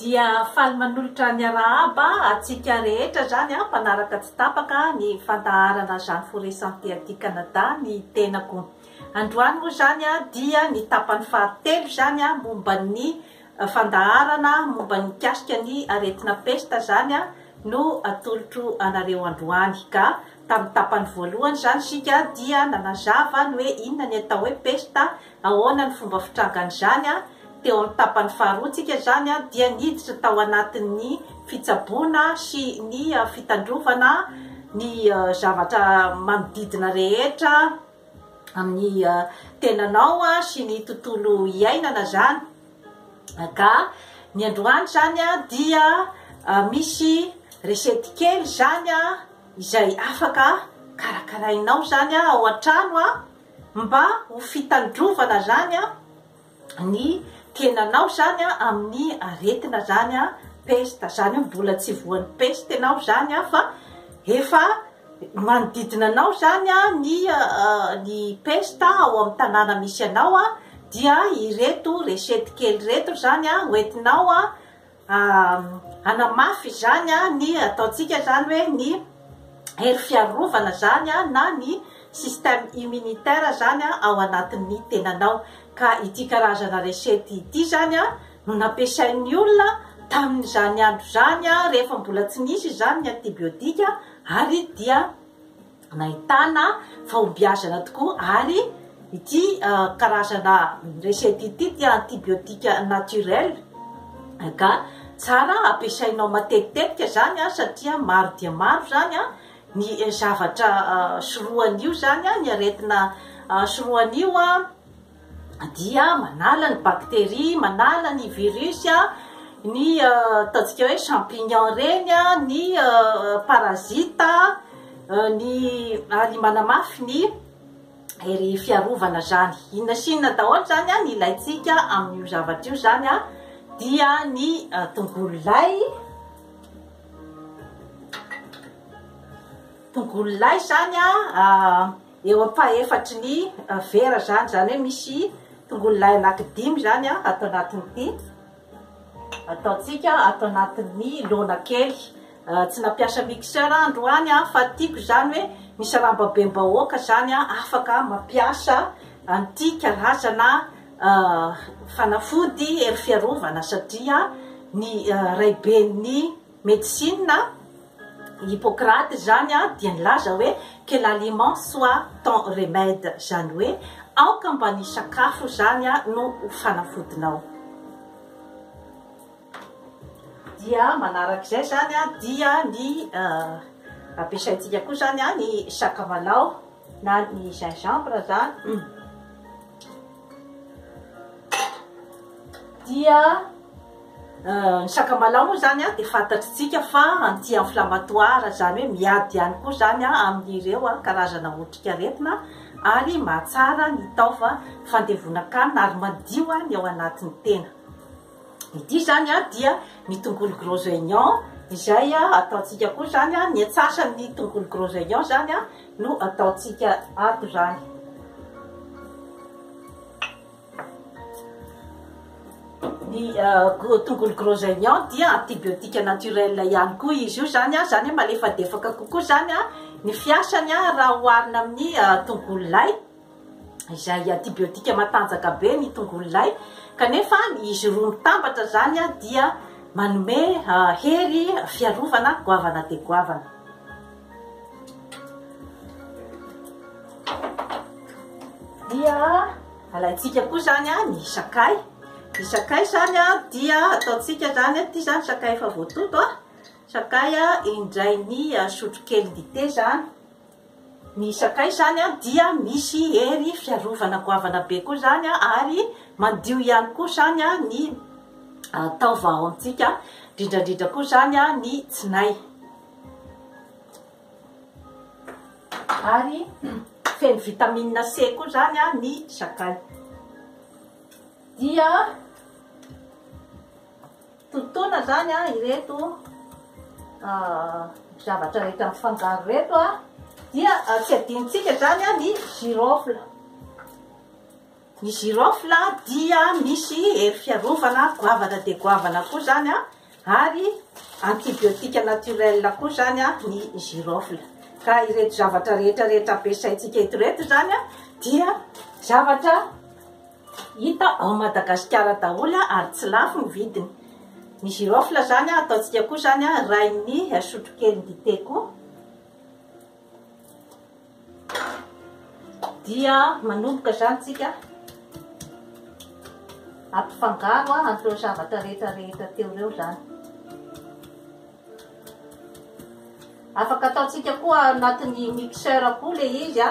dia faly manolotra ny arahaba atsika rehetra zany a mpanaraka tsy tapaka ny fandaharana zany foresante aty canada ny tenako androany moa zany a dia ny tapany fahatelo zany a momba ny Fandaharana momba ny mikasika ny aretina pesta izany no atolotro anareo androany. Ka tamin'ny tapany voalohany izany isika dia nanazava ny hoe inona ny atao hoe pesta, ahoana ny fomba fitrangan'izany. Teo amin'ny tapany faharoa tsika izany dia niditra tao anatin'ny fitsaboana sy ny fitandrovana ny zavatra manodidina rehetra amin'ny tenanao sy ny tontolo iainana zany ka ny androany zany a dia misy resety kely zany a izay afaka karakarainao zany a ao an-trano a mba ho fitandrovana zany a ny tenanao zany a amin'ny aretina zany a peste zany hoe mbola tsy voan'ny peste ianao zany a fa efa manodidina anao zany a ny ny peste ao amin'ny tanàna misy anao a dia ireto resety kely ireto zany a hoentinao a Hanamafy izany ny ataontsika izany hoe ny hery fiarovana izany na ny système immunitaire izany ao anatin'ny tenanao. Ka ity karazana recette ity izany no nampiasain'ny olona tamin'izany andro izany rehefa mbola tsy nisy izany ny antibiotique ary dia Nahitana fahombiazana tokoa ary ity karazana recette ity dia antibiotique naturel ka tsara ampiasainao matetitetika zany satria maro dia maro zany ny zavatra sorohan'io zany ny aretina sorohan'io dia manala ny bactérie, manala ny virus, ny ataontsika hoe champignon reny, ny parasite, ny ary manamafy ny hery fiarovana zany. Inona sy inona daholo zany an, ilaintsika amin'io zavatra io zany an, dia ny tongolo lay, tongolo lay zany an, eo ampahefatry ny vera izany, izany hoe misy tongolo lay anaky dimy izany an ato anatin'ity ataontsika ato anatin'ny laona kely, tsy nampiasa mixeur aho androany an fa tiako izany hoe misy rambabem-bahoaka izany an afaka mampiasa an'ity karazana fanafody hery fiarovana satria ny raiben'ny Medicine, Hippocrate izany dia nilaza hoe que l'aliment soit ton remède, izany hoe aoka mba ny sakafo izany no ho fanafodinao. Dia manaraka izay izany dia ny ampiasaintsika koa izany ny sakamalao na ny gingembre izany. dia ny sakamalaho moa zany a dia fantatritsika fa anti inflammatoire zany hoe miady ihany koa zany a amin'ireo a karazana otrikaretina ary mahatsara ny taova fandevonan-kanina ary madio a ny ao anatin'ny tena Ity izany dia ny tongolo gros oignon izay ataontsika koa izany, ny antsasan'ny tongolo gros oignon izany no ataontsika ato izany. Ny uh, tongolo gros oignon dia antibiotika naturel ihany koa izy io izany, izany malefadefaka kokoa izany ny fiasany raha oharina amin'ny uh, tongolo lay. izay antibiotika matanjaka be ny tongolo lay kanefa izy roa mitambatra izany dia manome hery fiarovana goavana dia goavana dia alaintsika koa izany a ny sakay ny sakay izany a dia ataontsika izany a ty zany sakay efa voatoto a sakay a indray ny sotrokely dite zany Ny sakay izany dia misy hery fiarovana goavana be koa izany ary mandio ihany koa izany ny taova ao amintsika, indrindra indrindra koa izany ny tsinay. Ary feno vitamine C koa izany ny sakay. Dia Totoina zany an ireto zavatra rehetra mifangaro reto an, dia tsy adinontsika zany an ny girofle. Ny girofle dia misy hery fiarovana goavana dia goavana koa zany an, ary antibiotique naturel koa zany an ny girofle. Ka ireto zavatra rehetra rehetra ampiasaintsika eto reto zany an dia zavatra. Hita ao Madagasikara daholo ary tsy lafo ny vidiny. Ny girofle zany ataontsika koa zany rain'ny sotrokely dite koa dia manomboka zany tsika ampifangaro an'ireo zavatra rehetra rehetra teo ireo zany. Afaka ataontsika koa anatin'ny mixeur koa le izy a.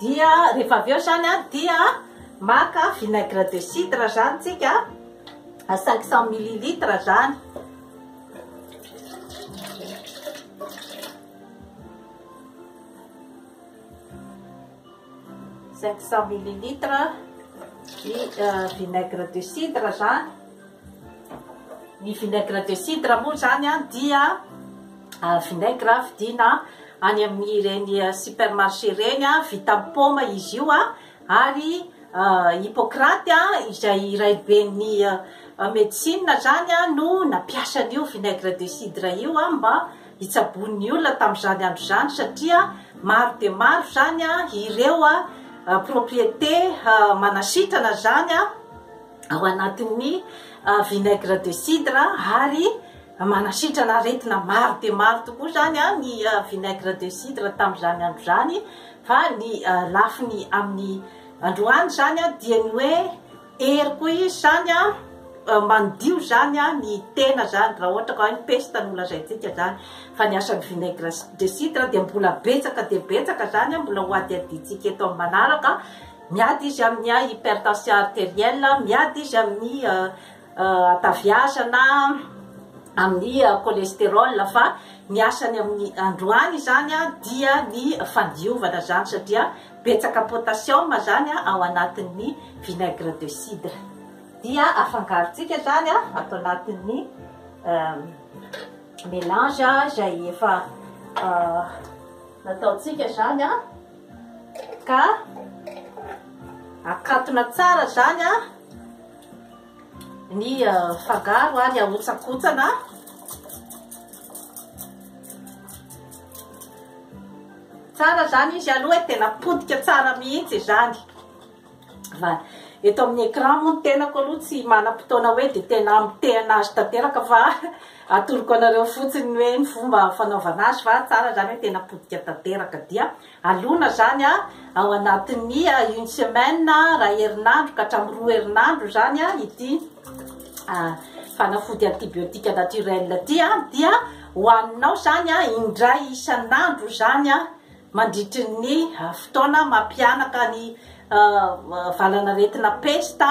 dia rehefa avy eo zany a dia maka vinaigre de cidre zany tsika a 500 millilitre zany Cinq cent millilitres ny vinaigre de cidre zany, ny vinaigre de cidre moa zany an dia vinaigre vidina any amin'ny ireny supermarché ireny an, vita amin'ny paoma izy io an, ary Hippocrate an izay raiben'ny medecine zany an no nampiasa an'io vinaigre de cidre io an mba hitsaboan'ny olona tamin'izany andro izany satria maro dia maro izany ireo propriété manasitrana izany ao anatin'ny vinaigre de cidre ary manasitrana aretina maro dia maro tokoa izany ny vinaigre de cidre tamin'izany andro izany fa ny lafiny amin'ny androany izany dia ny hoe Hery koa izy zany an, mandio zany an ny tena zany raha ohatra ka hoe ny pesta no lazaintsika zany fa ny asan'ny vinaigre de cidre dia mbola betsaka dia betsaka zany an mbola ho hadihadiantsika eto amin'ny manaraka miady izy amin'ny an hypertension arterielle miady izy amin'ny hataviazana amin'ny cholesterol fa ny asany amin'ny androany zany an dia ny fandiovana zany satria Betsaka potassium zany ao anatin'ny vinaigre de cidre. Dia afangarontsika zany ato anatin'ny melange izay efa nataontsika zany ka akatona tsara zany. ny fangaro ary ahotsakotsana tsara zany izy aloha e tena potika tsara mihitsy izany fa eto amin'ny écran moa ny tenako aloha tsy manam-potoana hoe dia tena mitehana azy tanteraka fa atoroko anareo fotsiny hoe ny fomba fanaovana azy fa tsara zany hoe tena potika tanteraka dia Alona izany ao anatin'ny une semaine, iray herinandro ka hatramin'ny roa herinandro izany ity fanafody antibiotique naturel ity dia hohaninao izany indray isan'andro izany mandritry ny fotoana mampihanaka ny valan'aretina pesta.